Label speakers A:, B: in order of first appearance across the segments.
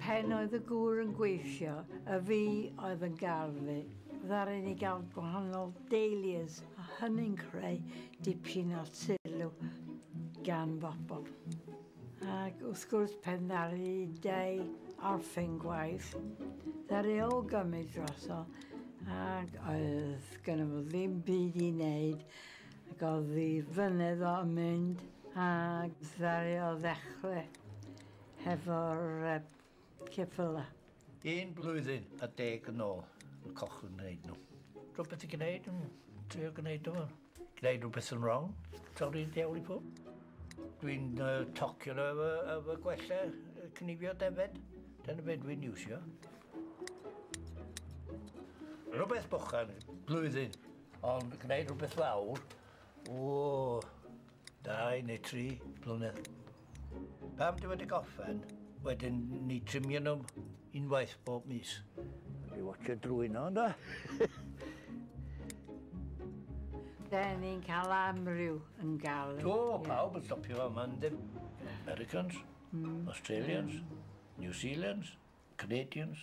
A: Pen oedd y gŵr yn gweithio, y fi oedd yn garfu. Ddaru ni gael gwahanol dahlias a hynny'n creu dipyn o sylw gan bobl. Ac wrth gwrs pan ddaru Dei orffen gwaith, ddaru o gymryd droso ac oedd gynno fo ddim byd i wneud ac oedd ei flynedd o yn mynd ac ddaru o ddechrau hefo'r Ceffyla. Un
B: blwyddyn a deg yn ôl yn cochwyn gwneud nhw. Rhywbeth i gwneud, yn trio gwneud nhw. Gwneud rhywbeth yn wrong, torri diawl i ffwrdd. Dwi'n uh, tocio nhw efo, efo gwella cnifio defed. Dyna beth dwi'n iwsio. Rhywbeth bochan, blwyddyn, ond gwneud rhywbeth fawr, o, dau neu tri blynedd. Pam dwi wedi gorffen, wedyn ni trimio nhw unwaith bob mis. Dwi watcha drwy nhw, ynddo?
A: Da ni'n cael amryw yn gael. O, pawb yn stopio
B: fa yma, ynddo? Americans, mm. Australians, mm. New Zealands, Canadians.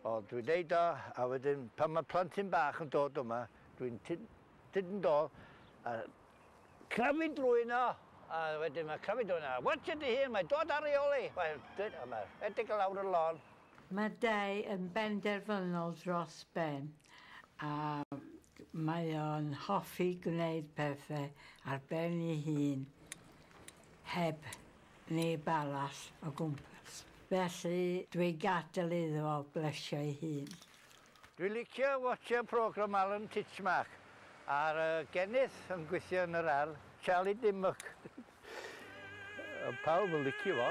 B: O, dwi'n deud o, a wedyn pan mae plentyn bach yn dod yma, dwi'n tyd yn dod a crafu drwy yno, a wedyn mae crafu drwy yno, watch ydy hyn, mae dod ar ei ôl i, mae'n dweud, a mae rhedeg o lawr y lôn. Mae Dai
A: yn benderfynol dros ben, a mae o'n hoffi gwneud pethau ar ben ei hun, heb neb arall o gwmpas, felly dwi gadel iddo fo blesio ei hun. Dwi licio
B: watcha program Alan Titchmark ar y gennyth yn gwithio yn yr ardd. Charlie Dimmock. Ond pawb yn licio fo.